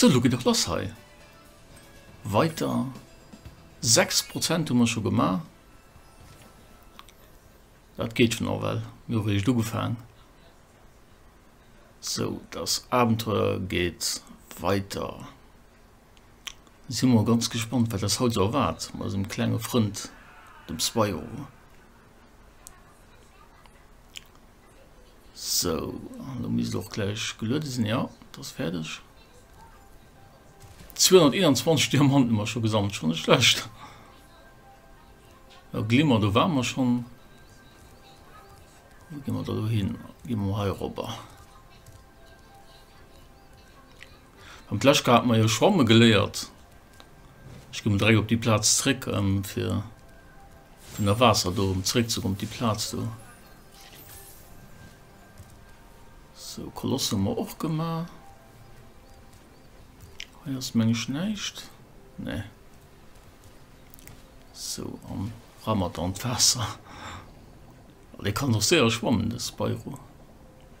Sou, lo geet et lass hei. Weiter. 6 Prozent hu mer scho gemaach. Dat geet schon och well. Mir hu réischt ugefaang. Sou, das Abenteuer geet weiter. Si mer ganz gespannt, wat eis haut sou erwaart, mat eisem klenge Frënd, dem Spyro. So, du mis och gleich gelueden sinn ja das fertigerdeg. 221 Diamanten immer schon gesammelt schon nicht schlecht. Ja, Glimmer du waren wir schon Wo gehen wir da hin? Gehen wir hier rüber. Am Pleschka hat mer jo schwamme geléiert. Ech gi mol direkt op déi Plaz zréck, fir vun der Waasser do erëm zréckzekommen op déi Plaz do. Sou, Koloss hu mer och gemaach. Hei ass, meng ech, näischt. Nee. Sou, an ra mat an d'Waasser. Oh, dee kann och séier schwammen, de Spyro.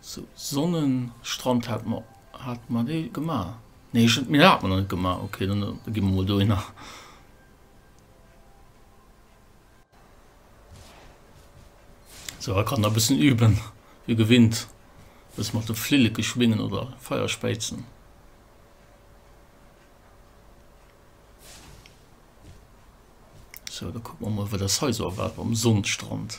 Sou Sonnenstrand hat mer, hat mer dee gema? Nee ech, mir hat mer nach net gema, okay dann gi mer mol dohinner. Sou hei kann der e bëssen üben wéi gewinnt, bësse mat de Flilleke schwingen oder Feier späizen. Sou da kucke mer mol wat ass hei sou erwaart mam Sonnenstrand.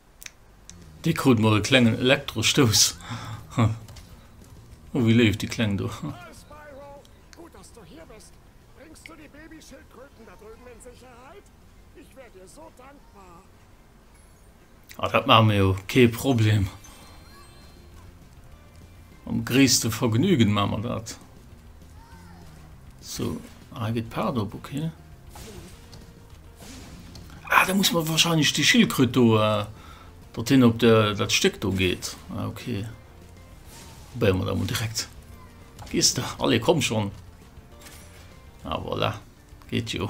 Dee krut mol e klengen Elektrostouss. Oh, wéi léif, déi Kleng do. Ah, dat maache mir jo kee Problem. Mam gréisste Vergnügen maan mer dat. So, ah hei geet d'Paart op, ok. Ah, da muss mer wahrscheinlech déi Schildkröt do, äh, datt hien op der, dat Stéck do geet. Ah, ok. Probéiere mer dat mol direkt. Gees de? Allez, komm schon! Ah, voilà. Geet jo.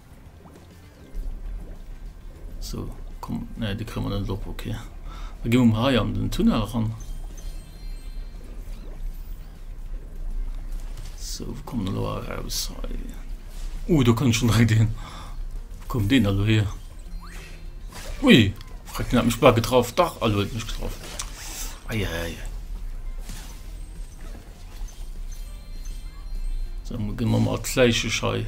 So, komm, ne, de kréie mer net op, okay. Da gi mer hei an den Tunnel ran. So, wo kommen wir da raus? Hei. Uh, da kann ich schon direkt hin. Wo kommt den da hier? Ui, frag den hat mich blau getroffen. Doch, also hat mich getroffen. Eieiei. Dann gehen wir mal als Leichen hei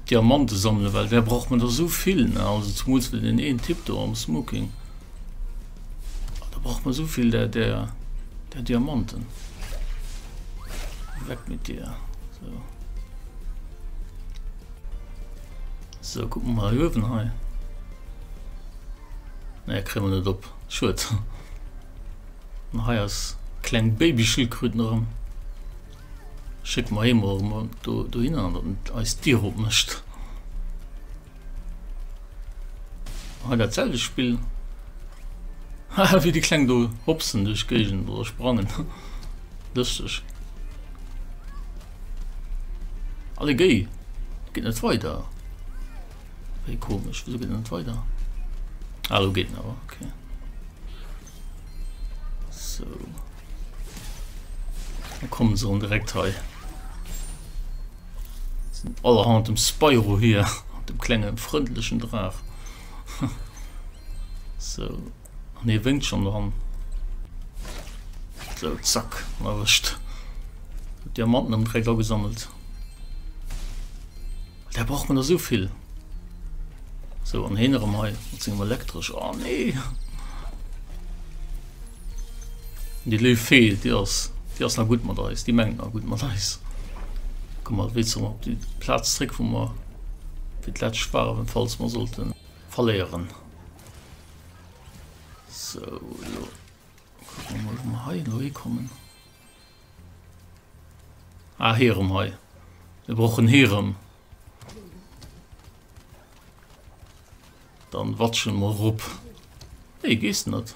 Diamanten sammeln, weil wer braucht man da so viel, ne? Also zumals für den einen Typ da am Smoking. Da braucht man so viel der, der, der Diamanten. Weg mit dir. So. So, gucken wir mal hier oben hei. Ne, kriegen wir nicht op. Schuld. Hei ass kleng Babyschildkröten erëm. Schéck mer hee mol mol do dohinner an datt et eis d'Dier op mécht. Hei dat selwecht Spill. Haha wéi déi kleng do hopsen duerch d'Géigend oder sprangen. Lëschteg. Allegéi, geet net weider. Wéi komesch, wéso geet dat net weider? Ah, elo geet en awer, okay. So. Da kommen se an direkt hei. Sin allerhand dem Spyro hier, dem klengen frëndlechen Draach. So. An hie wénkt schonn dran. Sou, zack, erwëscht. Huet Diamanten ëm d'Réck agesammelt. Där brauch mer der esou vill. Sou, an heen erëm hei mat sengem Elektresch. Oh nee! Déi léif Fee, déi ass, déi ass nach gutt mat eis, déi mengt nach gutt mat eis. Komm mat wéi zrëck op déi Plaz zréck, wou mer fir d'lescht waren, falls mer sollten verléieren. So, lo. Gucken wir mal, ob wir hier neu kommen. Ah, hier um hier. Wir brauchen hier um. Dann watschen wir rup. Hey, gehst nicht.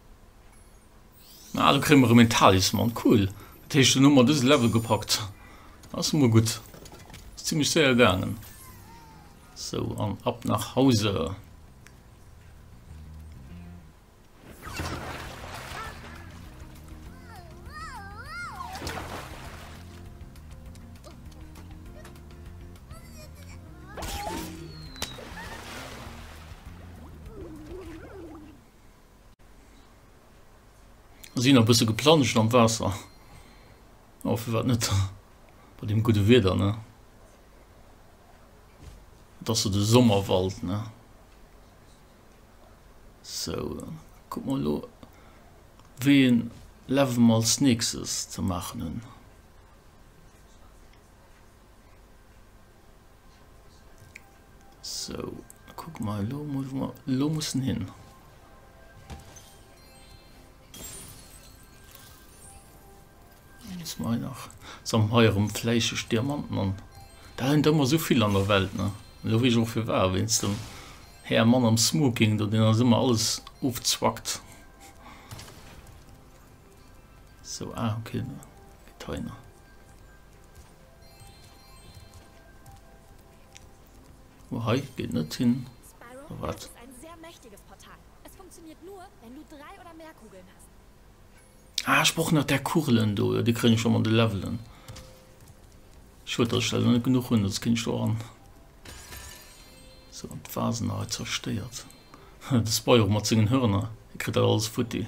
Ah, do kréie mer erëm een Talisman, cool. Dat heescht, dunn hu mer dëse Level gepackt. Ass emol gutt. Ass zimmlech séier gaangen. Sou, an ab nach Hause. Ass een e bësse geplanscht am Waasser. Oh, firwat net bei deem gudde Wieder, ne? Et ass sou de Sommerwald, ne? So, kuck mol elo, wéi een Level mer als nächstes ze maachen hunn. Sou, da kucke mer elo emol, wou mer elo mussen hin. Muss mer hei nach. Sam so, hei erëm fläicheg Diamanten an. Da hunn der ëmmer esou vill an der Welt, ne? Elo weess ech och firwat, wéinst dem Här Mann am Smoking do, deen eis ëmmer alles ofzwackt. Sou, ah, okay, da gëtt hei nach. Oh, hei geht net hin. Spyro, Wat? das ist ein sehr mächtiges Portal. Es funktioniert nur, wenn du drei oder mehr Kugeln hast. Ah, ech brauch nach der Kugelen do. Ja, die kriegen schon mal de Levelen. Schued, dass ich da net genug hun, sonst ging ich do ran. So, die Vasen hei zerstört. De Spyro mat sengen Hörner. Der kritt dat alles futti.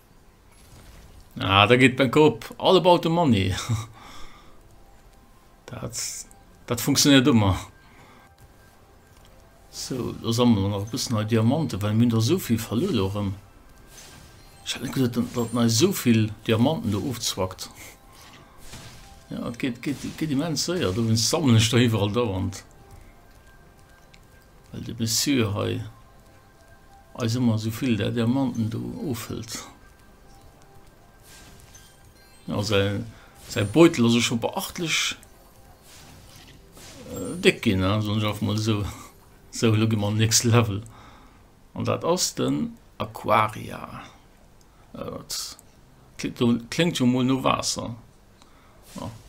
Ah, da geet mein Kopp all about the money. Dat, dat funktioniert ëmmer. So, lo sammelen wir nach e bëssen hei Diamanten, well mir hunn der esou vill verluer lo erëm. Ech hat net geduet, dat dat nei esou vill Diamanten do ofzwackt. Ja, et geet, geet, geet immens séier, dowéinst sammelen ech der iwwerall dauernd. Well de Monsieur hei. Eis ëmmer esou vill der Diamanten do ofhëlt. Jo, säi Beutel ass och scho beachtlech déck ginn, soen ech einfach mol esou. Sou, elo gi mer an den nächste Level. An dat ass den Aquaria. Dat kléngt jo mol no Waasser.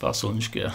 Waasser hunn ech gär.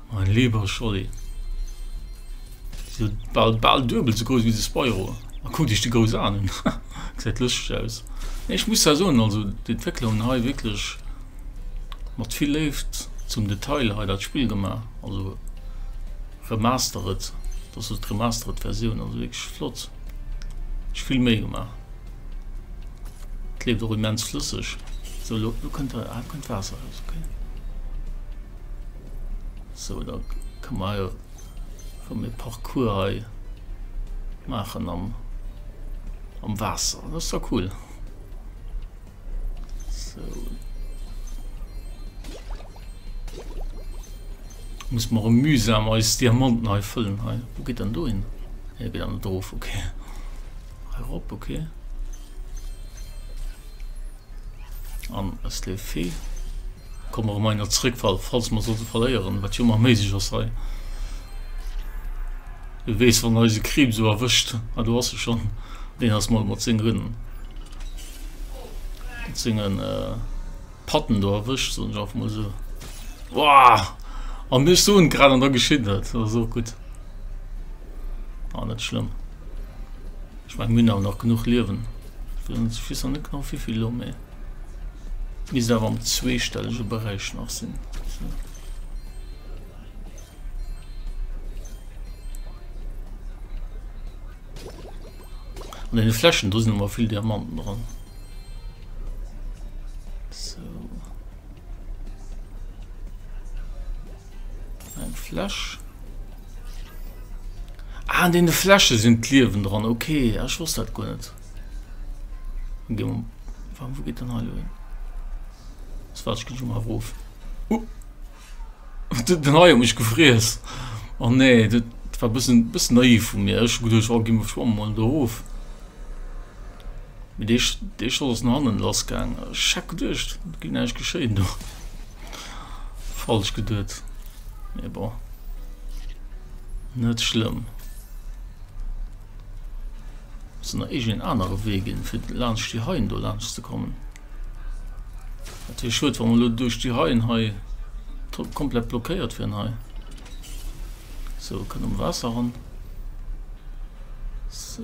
Mein lieber Scholli, déi sou bal bal duebel sou grouss wéi de Spyro. A kuck dech déi grouss Aen un, gesäit lëschteg aus. Nee ech muss zwar soen, also d'Entwéckler hunn hei wierklech mat vill Léift zum Detail hei dat Spill gemaach, also remastered, dat ass also d'remastered Versioun, also wierklech flott, sech vill Méi gemaach. Et leeft och immens flësseg. Sou lo kënnt, ah, lo kënnt Waasser eraus, okay. So da ka mer jo rëm e Parcours hei maachen am am Waasser. Dat ass da cool. So. Muss mer rëm mühsam eis Diamanten hei fëllen hei. Wou geet dann do hin? Hei geet dann dof, okay. Hei rop, okay. An es leeft vill. Komme mer emmer zréck, falls mer sollte verléieren, wat jo ëmmer méiglech ass hei. Du weess, wann eise Kriib sou erwëscht, a do ass e schon, deen ass mol mat sengen mat sengen äh, Patten do erwëscht, soen ech einfach mol sou. Wouah! An mir stoen grad an da geschitt dat, dat ass och gutt. Ah, net schlëmm. Ech mein, mir hunn awer nach genuch Liewen. Ech weess nach net genau wéivill elo, mee et misst awer am zweestellege Beräich nach sinn. An deene Fläschen do sinn ëmmer vill Diamanten dran. Eng Fläsch. Ah, an deene Fläsche sinn d'Liewen dran. Okay, ah, ech wosst dat guer net. Warum, wo geet den Heilo hin? Das war ich schon mal ruf. Uh. Den Heilo mich gefries. Oh nee, dat war bisschen, bisschen naiv vu mir. Ech geduerch, oh, gi mir schwamm mal doof. Mit dee, dee Schoss hannen lassgang. Schack geduercht, ginn eich geschéien do. Falsch geduet. Mee bon. Net schlimm. Muss nach irgendeinen anderen Weg gehen, für laanscht die Haien do laanscht zu kommen. Dat wär schued, wenn wir durch die Haien hei komplett blockéiert wären hei. So, können um Wasser ran. So.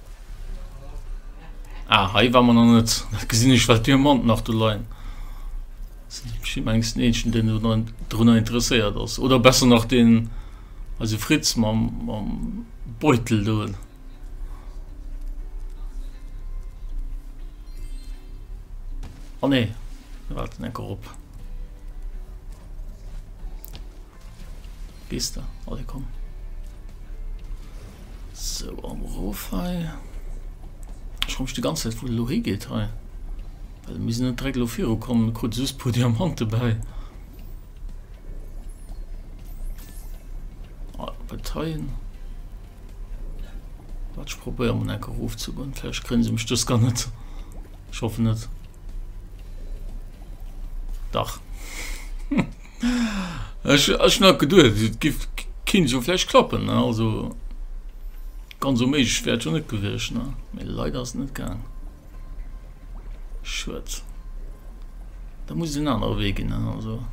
Ah, hei war man an net gesinn ech wat Diamant nach du leien. Schimengs Neechen den runnner interesséiert ass oder besser nach den also Fritz ma mam Beutel doen. An ah, nee wat en enker op. Gees de? Allez komm. So, am Rof hei. Ich komme die ganze Zeit, wo lo hingeht hei. Weil wir sind direkt lo viru kommen, kurz süß paar Diamanten bei. Ah, Parteien. Warte, ich probiere mal einen Ruf zu gehen. Vielleicht kriegen sie mich das gar nicht. Ich hoffe nicht. Dach. Ech hat geduet et giff kinnt jo vläicht klappen ne also ganz onméiglech wär et jo net gewiescht ne mee leider ass et net gaang. Schued da muss et en anere Wee ginn ne also.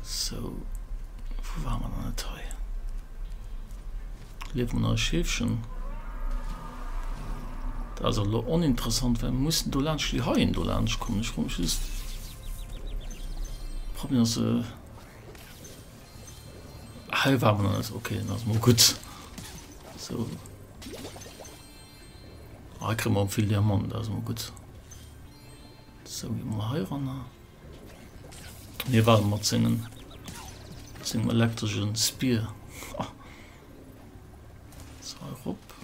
Sou wou waren mer dann net hei. Leeft mat eise Scheefchen. Dat ass elo oninteressant, well mir mussen dolaanscht déi Haien dolaanscht kommen. Ech froe mech just, ob mir se. Hei war mer nach net. Okay, dann ass mol gutt. Sou. Ah, hei kréie mer och vill Diamanten, dat ass mol gutt. Sou, gi mol heiranner. Hie war mat sengem, sengem elektresche Spear. Ha. Sou, hei rop.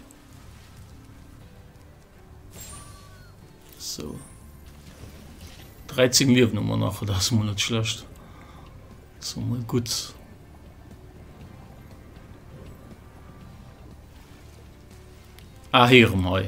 Sou. 13 Liewen hu mer nach, dat ass mol net schlecht. Dat ass mol gutt. Ah, hei erëm hei.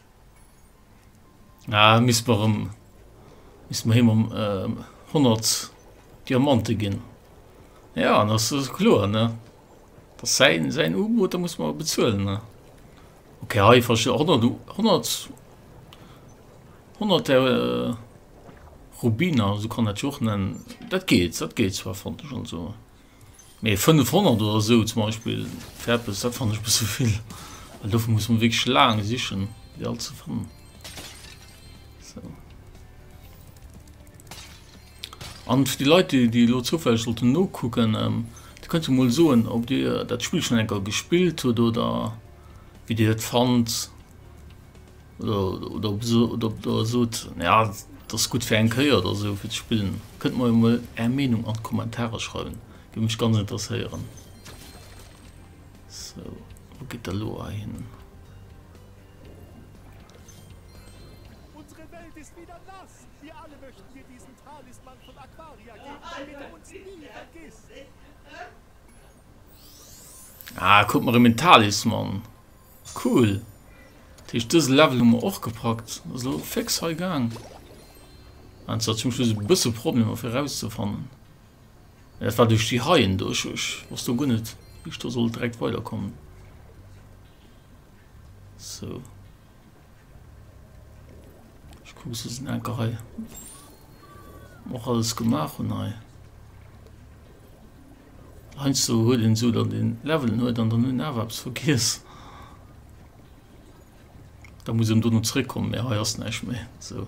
Ah, misst mer em, misst mer him em ähm, 100 Diamante ginn. Ja, an das ist klar, ne? Das ist sein, sein U-Boot, da muss man bezahlen, ne? Okay, hei, ich verstehe, 100, 100, 100 äh, Rubiner, so kann das auch nennen. Das geht, das geht zwar, fand ich schon so. Mee 500 oder esou zum Beispill fir eppes, dat fannen ech e bësse vill, well dofir muss mer wierklech laang sichen, fir all ze fannen. Sou. An fir déi Leit, déi, déi elo zoufälleg sollten nokucken, ähm, Dir kënnt jo mol soen, ob Dir dat Spill schonn eng Kéier gespillt hutt oder wéi Dir et fannt. oder sot ja dass gutt fir eng Kéier oder sou fir ze spillen, kënnt mer jo mol är Meenung an d'Kommentarer schreiwen, géif mech ganz interesséieren. Sou wou geet der lo ahin? Ah, kuck mer rem en Talisman. Cool! Dat heescht dëse Level hu mer och gepackt. Ass elo féx hei gaang. Mir haten zwar zum Schluss e bësse Problemer fir erauszefannen. Mee dat war duerch déi Haien do. Ech wosst do guer net wéi ech do sollt direkt weiderkommen. Sou. Ech kucken se sinn enker hei. Och alles gemaach hunn hei. Heinsdo huet een esou dann den Levelen huet an dann hun awer eppes vergiess, da muss een dono zréck kommen, mee hei ass näischt méi esou.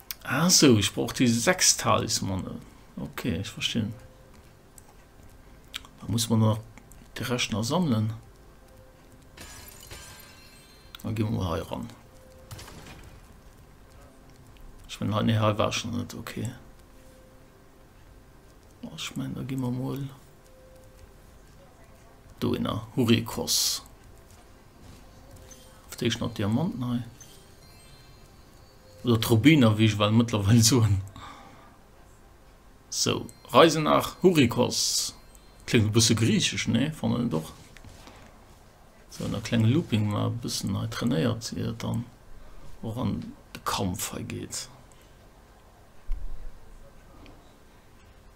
Ah so, ich brauch die sechs Talismane. Okay, ich verstehe. Da muss man noch den Rest noch sammeln. Dann gehen wir hier ran. Ich meine, halt nicht halb war schon nicht okay. Oh, ich meine, da gehen wir mal. Da in der Hurikos. Auf der ich noch Diamanten habe. Oder Trubiner, wéi ech well mëttlerweil soen. Sou, Reise nach Hurikos. Kléngt e bësse griichesch, nee? Fannen et och. Sou, an e klenge Looping mar e bëssen hei trainéiert, ier et dann och an de Kampf hei geet.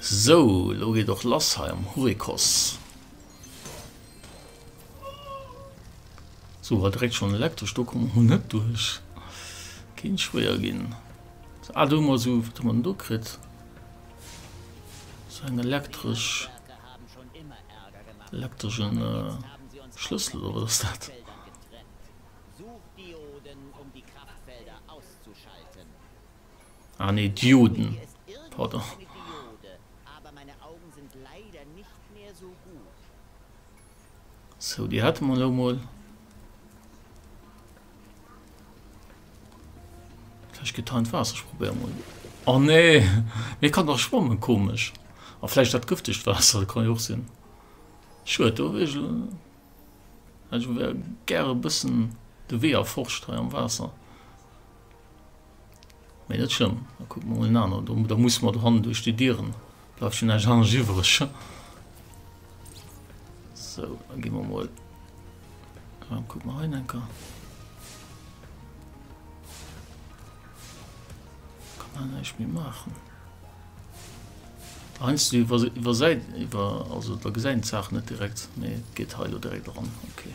Sou, elo geet och lass hei am Hurikos. Sou, war direkt schon elektresch do, kommen mer net duerch. Kéint schwéier ginn. Sou, ah do hu mer sou, wat hu mer denn do kritt? Sou eng elektresch, elektreschen Schlëssel oder wat ass dat? Ah nee, Dioden, pardon. Sou, déi hate mer elo mol. Vläicht gëtt hei d'Waasser, ech probéiere mol. Oh nee, mir kann nach schwammen, komesch. A vläicht dat gëftegt Waasser, dat kann jo och sinn. Schued, do wär ech, hätt ech gär e bëssen de Wee erforscht hei am Waasser. Mee net schlëmm, da kucke mer emol en anert. Do, da musse mer dohannen duerch déi Dieren. Bleift schonn näischt anescht iwwereg. So, da gi mer emol. Ja, kuck mal rein, Enker. Kann man näischt méi maachen. Einst du iwwer, iwwer Säit, iwwer, also da gesäit een d'Saach net direkt. Mee et geet hei lo direkt eran. Okay.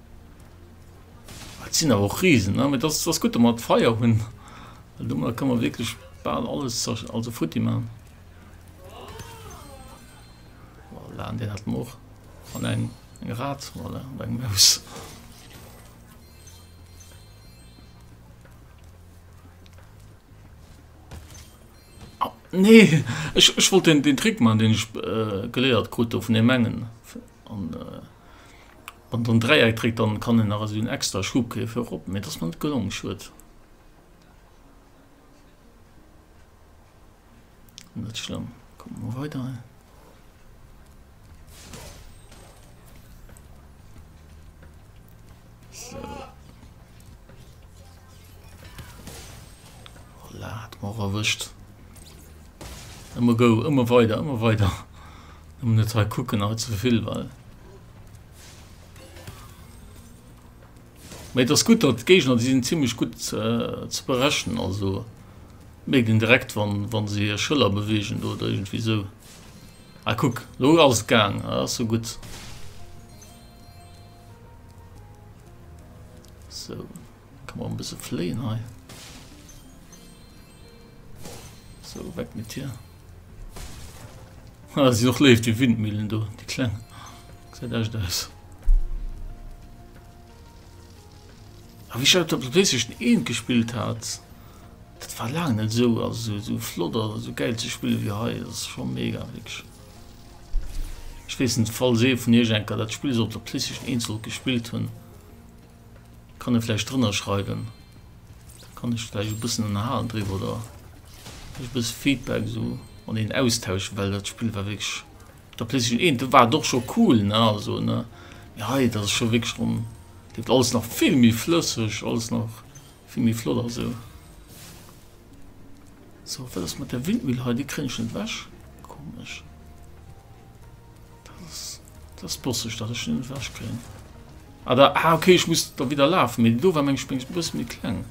Et sinn awer och Risen, ne? Mee dass, dass gutt, dass mer d'Feier hunn, well domadder kënne mer wierklech bal alles zersch-, also futti maachen. Voilà, deen hätte mer och. An eng, eng Rat, voilà, oder eng Maus. Ah, nee! Ech, ech wollt deen, deen Trick maachen, deen ech geléiert krut do vun deem engen. An. Wann dann Dräieck dréckt dann kann een nach esou en extra Schub kréien fir erop mee et ass mer net gelong, schued. Net schlëmm, kucke mer weider hei. och erwischt immer go immer weiter immer weiter net kucken zu viel weil Mee et ass gutt, datt d'Géigner, déi sinn zimmlech gutt ze berechnen. Also mierkt een direkt, wa se hir Schëller beweegen do oder iergendwéi esou. Ah, kuck, lo ass et gaang. Dat ass jo gutt. Sou. Kann man bis fleen hei so weg mit hier ah, sie noch lebt die windmühlen du die klein seit echt aus ah, wie schaut ob du richtig een gespielt hat das war lange nicht so also so flott oder so geil zu spielen wie he das ist schon mega wirklich ich wissen fall se von ihr schenker das spiel sollte christlich einzel gespielt hun Kann e vläicht drënner schreiwen, da kann ech vläicht e bëssen ënnerhalen driwwer oder vläicht e bësse Feedback esou an een Austausch, well dat Spill war wierklech op der PlayStation 1, do war et och scho cool, ne, also, ne, mee hei, dat ass scho wierklech rem, wierkt alles nach vill méi flësseg, alles nach vill méi flott a sou. So, wat ass mat der Windmüll hei? Déi kréien ech net ewech. Komesch. Das bosseg dat ech net wech kréien. Ah, da, ah okay, ich muss da wieder lafen, mit do war meng Spéngs bëss méi kleng.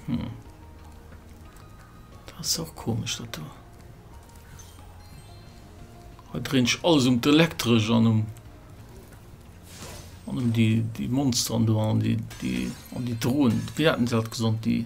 Hm. Das ist auch komisch dat do. Da drehen ich alles um d'Elektrisch an um an um die, die Monster an do an die, die an die Drohnen. Wie hatten sie halt gesund, die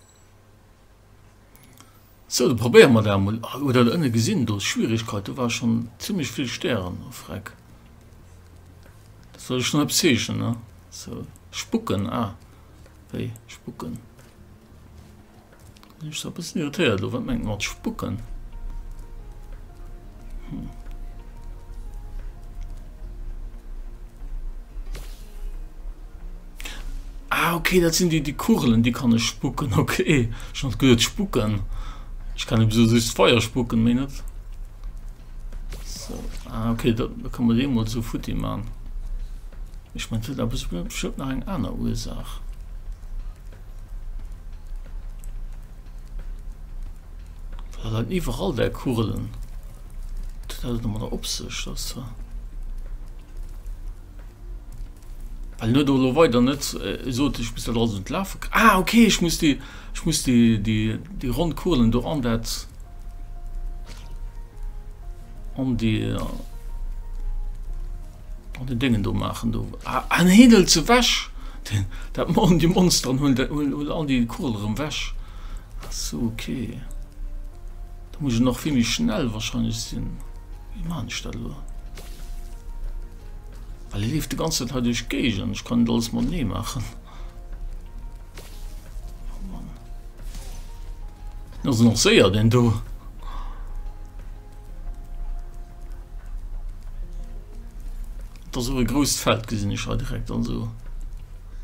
Sou, da probéiere mer dat emol. Halloo, hutt Der do ënne gesinn, do ass Schwierigkeit, do ware schonn zimlech vill Stären. Oh Freck, da soll ech nach eppes zeechnen, ne? Sou, spucken, ah, wéi spucken? Sinn ech da e bëssen irritéiert elo? Wat mengt Der mat spucken? Hm. Ah ok dat sinn déi déi Kugelen déi kann ech spucken ok. Ech hat gesot spucken ech kann eben sou just Feier spucken méi net ah ok dat kann mer dee mol sou futti man ech mein dat awer sou bestemmt nach eng aner Ursaach. Well dat iwwerall där Kugelen wat huet dat elo mat der op sech dat se. Well net elo weider net sot ech muss dat alles un d'Lafe kréien. Ah okay, ech muss déi ech muss déi déi déi ronn Kuelen do an dat an déi an den Déngen do maachen do. Ah, ah nee, hien hëlt se weg! Den dat machen déi Monster an huelen dat huelen huelen all déi Kuel erëm weg. Ah sou, okay. Da muss ech nach vill méi schnell wahrscheinlech sinn. Wéi maan ech dat elo? Well hie leeft de ganze Zäit hei duerch d'Géigend. Ech kann et alles mat nee maachen. Dat ass nach séier den do. Dat ass och e grousst Feld gesinn ech hei direkt an sou.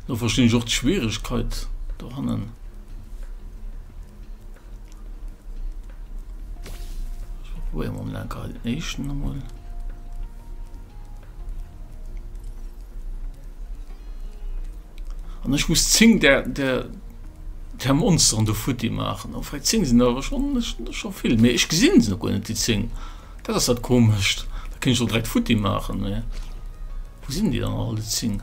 Do verstinn ech och d'Schwieregkeet dohannen. Probieren wir mal gerade den nächsten nochmal. Und ich muss zing der, der, der Monster an der Futti machen. Und vielleicht zing sind aber schon, schon viel. Mehr. Ich gesehen sie noch gar nicht, die zing. Das ist halt komisch. Da kann ich doch direkt Futti machen. Mehr. Wo sind die dann alle zing?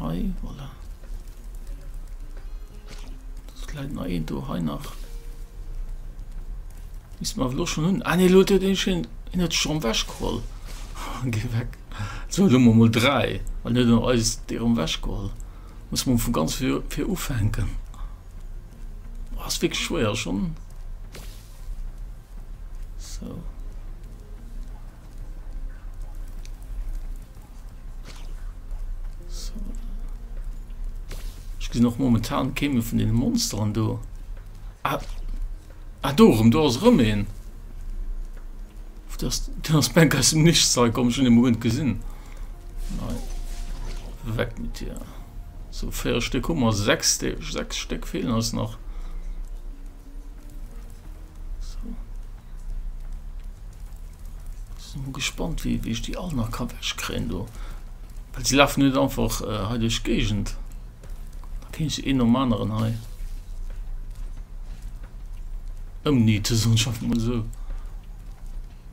Hei, voilà. Das kleit nach een do, hei nach. Is ma lo schon hun. Ah nee, lo huet een schon, een huet schon weggeholl. Geh weg. So, lo mo mol drei, weil net no eis dir um weggeholl. Muss man vu ganz fir, fir ufänken. Was wirklich schwer schon. So. Ech ginn och momentan kee méi vun deene Monsteren do. Ah, ah do rum, do ass rëm een. Den ass Bänk aus dem Nichts hei komm, ech hunn e Moment gesinn. Nei. Weg mit dir. So, véier Stéck hu mer, sechs, sechs Stéck feelen eis nach. Sinn gespannt wéi ech déi all nach ka wech kréien do, well se lafen net einfach hei duerch d'Géigend. Da kéint ech se een nom aneren hei ëmniete soen, schaffen mer esou.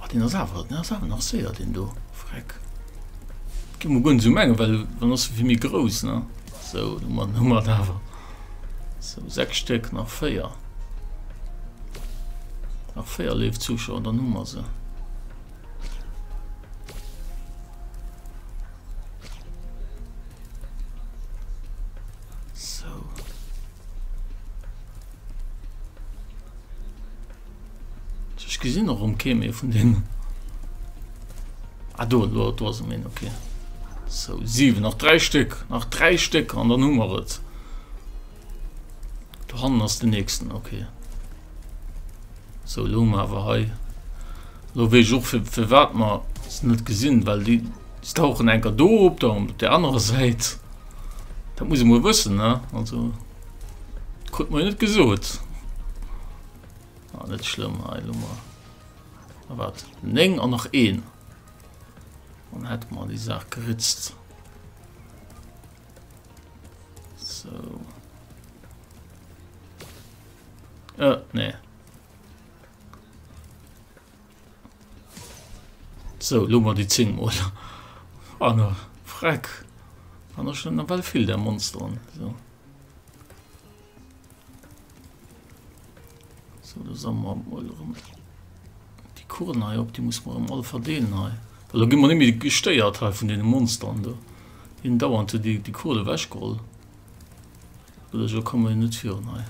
Oh, den ass awer, den ass awer nach séier, den do. Freck. Gi mo gun so menge, well wann ass fir méi grouss, ne? So, du man Nummer awer. So, sechs Stück, nach véier. Nach véier leef Zuschauer, dann hu mer se. Ech gesinn och um Keem ee vun deenen. Ah, do, do, do ass em een, okay. So, sieben, nach drei Stück, nach drei Stück an dann hummer et. Du han ass den nächsten, okay. So lo awer hei. Lo wéi joch fir fir wat man net gesinn, well die tauchen enker do op der der anderer Säit. Dat muss mo wëssen ne also. Krut mir net gesot. Ah, net schlimm, hei Lummer. Ah, wat? Neng an nach een. Dann hätte man die Sache geritzt. So. Äh, nee. So, lo mer déi 10 mol an der Freck. An der schon well vill der Monster an. So. So, da sam mer mol rum. Die Kurven hei op, die muss man mal verdeelen hei. Well da gi man nimi gestéiert hei vun den Monster an do. Hien dauernte die, die Kurve wäschgroll. Oder so kommen net virun hei.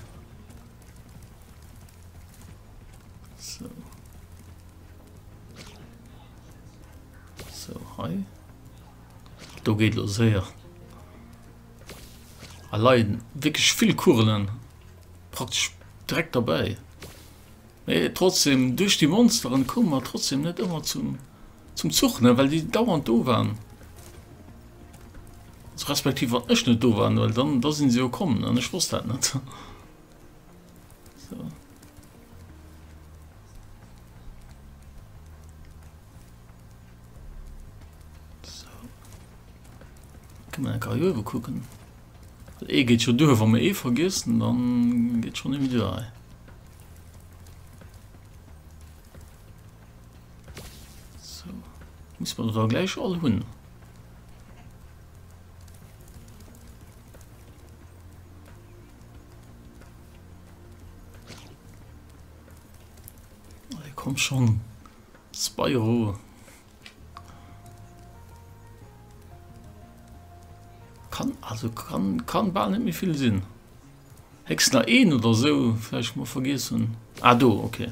Do geet lo séier. A leiden wéckeg vill Kurelen praktesch dreck dabei. Mee trotzdem duerch déi Monsteren koum mat trotzdem net ëmmer zum zum Zuch ne well déi dauernd do waren. Respektiv wat ech net do waren, well dann da sinn se jo kommen an ech wosst dat net. Karriere gucken e geht schon durch wenn man eh vergessen dann geht schon irgendwie durch so. muss man da gleich all hun Komm schon Spyro kann also kann kann ball nicht mehr viel sinn hex nach een oder so vielleicht mal vergessen ah do okay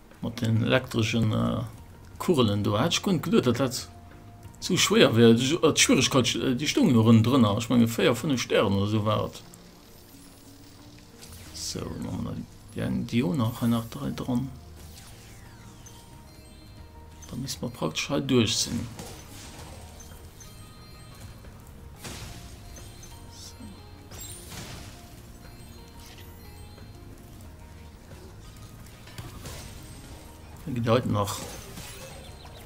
Mat den elektreschen Kugelen do hat ech guer net geduet dat dat sou schwéier wär. D'Schwieregkeet déi stoungen jo erëm drënner, ech menge 4, 5 Stären oder sou war et. Sou da man dann déi eng déi o nach hei nach 3 dran. Da misst mer praktesch hei duerch sinn. Gedeit nach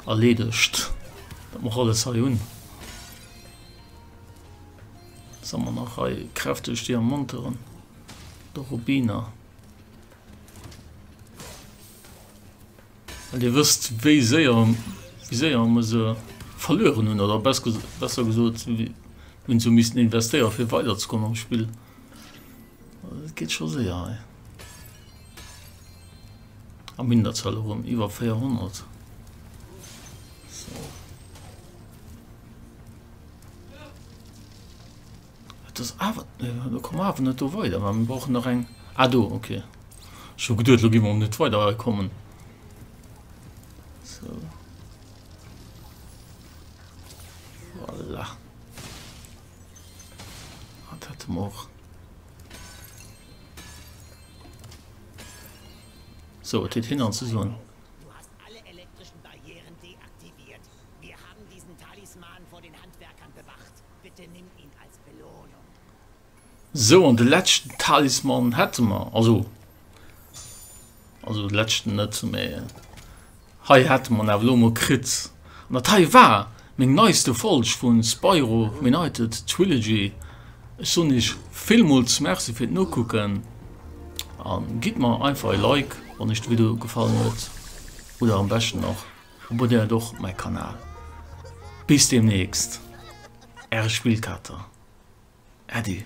erledigt mach alles he hun sommer nach he kräftig dir monteren der Rubiner dir wisst wie sehr wie sehr muss verloren hun oder best besser gesucht wie hun zu miss investieren für weiter zu kommen am spiel geht schon sehr he. Am Minderzahl erëm iwwer 400. das awer äh, kom awer net do weider man brauchen nach eng a ah, do okay so geduet lo gimmer net weiter kommen so. voilà. hat hat och So, et huet hin an ze soen. Du hast alle elektrischen Barrieren deaktiviert. Wir haben diesen Talisman vor den Handwerkern bewacht. Bitte nimm ihn als Belohnung. So, an de leschten Talisman hätte mer. Also, Also de Lätschten net, mee hei hate mer en awer elo mol kritt. An dat hei war meng neiste Folg vu Spyro Reunited Trilogy. Ech soen iech villmools Merci fir d'Nokucken a gitt mer einfach e Like, wann iech de Video gefallen huet. Oder am beschten och abonnéiert och mäi Kanal. Bis deemnächst, äre Spillkater. Äddi.